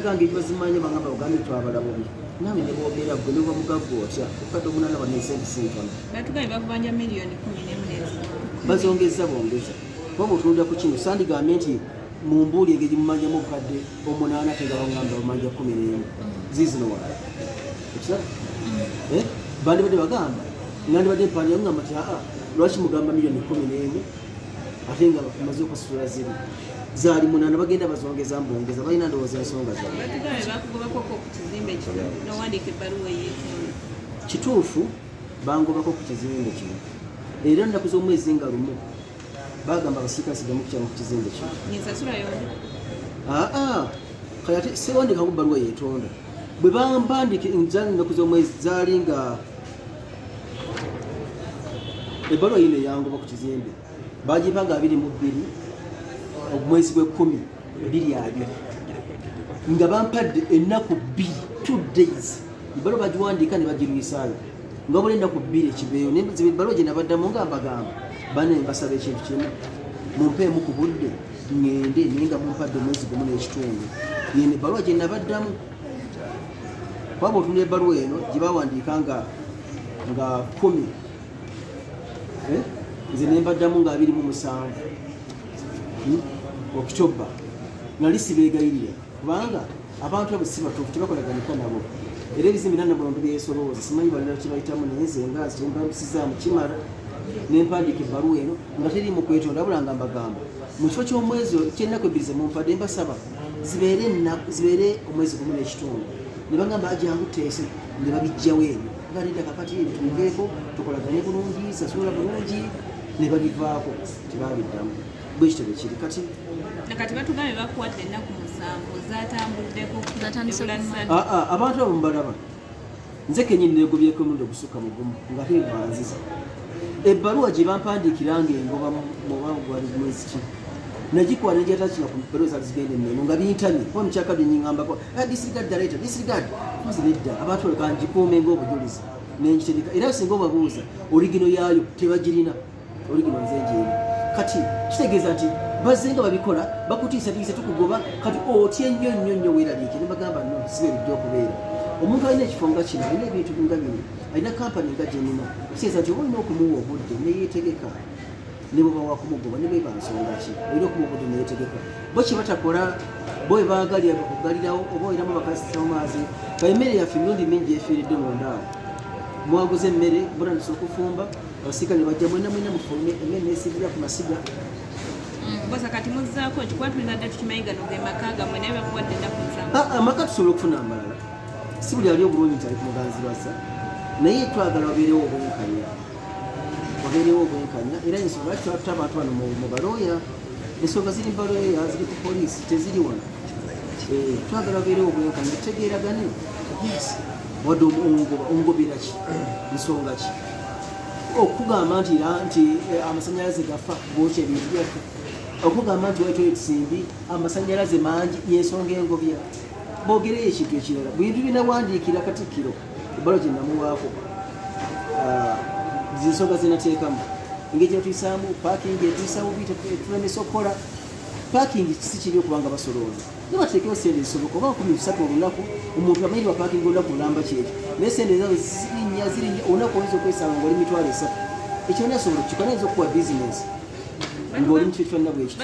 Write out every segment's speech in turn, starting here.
gange bazimanya bangamba ogambe twabalabumu nawe ne boogera gwe neba mugagga otya okukadde omunana bano esente sintono batugaye bakubanja miliyoni kumi nemu bazongeza bongeza kuba mutunulira ku kino sandigambe nti mumbuuli engeri mumanjamu obukadde omunaana tegabangamba bamanja kumi nemu zizino wala ekiraba mm. eh? bandibadde bagamba nandibadde mpanjamu ngamba ti aa lwaki mugamba miliyoni kumi nemu ate nga maze okusitula ziri zaali munana bagenda bazongeza mbongeza balina ndowooza ensonga kituufu bangobako ku kizimbe kino era nnaku z'omwezi nga lumu bagamba abasiika sigamu kukyama ku kizimbe kino aa kati ate sewandikako bbaluwa yetonda bwe bambandika zaali nnaku z'omwezi zaali nga ebbaluwa yino eyangoba ku kizimbe bagipaga abiri mu bbiri omwezi gw'ekkumi biri abiri nga bampadde ennaku bbiri two days ebalo bagiwandiika ne bagirwisaayo nga buli ennaku bbiri ekibeeyo nebalo gye nabaddamu nga mbagamba bane mbasaba ekintu kimu mumpeemu ku budde ŋŋende naye nga mumpadde omwezi gumu n'ekitundu yene ebbaluwa gye nabaddamu kwaba otunda ebbaluwa eno gye bawandiika nga nga kumi eh? nze nembaddamu nga abiri mu musanvu hmm? okitoba nali sibeegayirira kubanga abantu abo si batuufu tebakolaganika nabo era ebizimbi nanabantu byesolooza simanyi balala kibayitamu naye nze nga kyembambisizaamu kimala nempandiika ebbaluwa eno nga teri mu kwetonda abula nga mbagamba mu kifo ky'omwezi kyennaku ebbiri zemumpadde mbasaba zibeere omwezi gumu n'ekitundu ne bagamba ajangu teese ne babijjawo ebyo baleta kakati tuveeko tukolagane bulungi sasula bulungi ne babivaako tebabiddamu bwe kitebe kiri kati kati batugambe bakuwadde ennaku musanvu zatambuddeko ah, ah, abantu abo mubalaba nze kenyini negobyeko omundi ogusukka mugumu nga tenganziza ebbaluwa gye bampandiikira nga engoba mubanga gwali mwezi ki nagikwala negyatakina ku bbaluwa zali zigenda ennono nga bintamye kuba mukyakabyenyingambako disregard the letter disregard tuzi nedda abantu oleka ngikuume ng'obujulizi nengitegeka era singa obabuuza oligino yaayo tebagirina oligino nze njeeri kati kitegeeza nti bazze nga babikola bakutiisatiisa tukugoba kati otya ennyo nnyo nnyo weeraliike ne bagamba no sibe bijja okubeera omuntu alina ekifo nga kino alina ebintu nga bino alina kampani nga gyenina kitegeeza nti oba olina okumuwa obudde neyeetegeka ne bwe bawa kumugoba ne beba nsonga ki olina okumubudu neyetegeka bo kye batakola bo bwe baagalira bakugalirawo oba olinamu bakasitamu maazi ka emmere yaffe emirundi mingi efiiridde munda awo mwaguza emmere mutandisa okufumba abasirika ne bajja mwena mwena mufulume emmere neesiibira ku masiga mm, bosa kati muzzaako nti kuba tulina dda tukimanyi gano ge maka gamwe naye bakuwadde ennaku nsanvu ah, amaka tusobola okufuna amalala si buli ali obulungi nti ali ku muganzi bazza naye twagala wabeerewo obwenkanya wabeerewo obwenkanya era ensonga lwaki twatuta abantu bano mu balooya ensonga ziri mu balooya ziri ku poliisi teziri wano eh, twagala wabeerewo obwenkanya tutegeeragane wadde omugobera ki nsonga ki okugamba nti nti eh, amasanyalaze gafa gookya ebintu byaffe okugamba nti waliwo ekisimbi amasanyalaze mangi yensonga engobya bogereyo ekintu ekirala bintu binawandiikira katikkiro ebbalo kye namuwaako ah, zinsonga zenateekamu engeri gyetuyisaamu pakingi etuyisa bubi tulemesa okukola pakingi kisi kibi okubanga basolooza ne bateekewo sente zisoboka oba kumi bisatu olunaku omuntu amanyi wa pakingi olunaku olamba kyekyo naye sente zabo zirinya zirinya olunaku oyinza okwesanga ngaoli mitwalo esatu ekyo nasobola okukikola ayinza okukuwa bizinesi ng'oli mu kifo kifanana bwekyo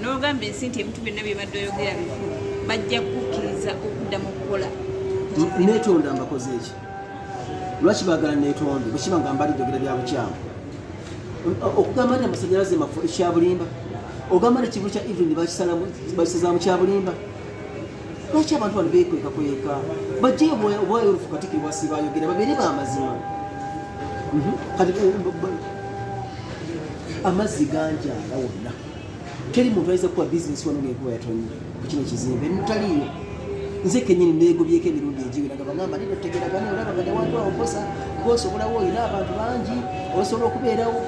n'ogamba ensi nti ebintu byonna bye badde oyogera bifu bajja kukkiriza okudda mu kukola netonda mbakoze eki lwaki bagala netonde bwekiba nga mbali jogera bya bukyamu okugamba nti amasanyalaze mafu ekyabulimba ogamba nti ekivu kya evelyn bakisazaamu kyabulimba lwaki abantu bano bekweka kweka bajjeyo obwayo olufu katikiri bwasi bayogera babeere bamazima mhm. kati eh, amazzi ganjala wonna teri muntu ayinza kukuba bizinesi wano ng'enkuba yatonye ku kino ekizimbe mutaliiyo nze kenyini neegobyeko emirundi egiwera nga bagamba nino tegeragana olaba nga newantu awo kosa gosobolawo olina abantu bangi osobola okubeerawo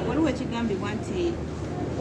waliwo ekigambibwa nti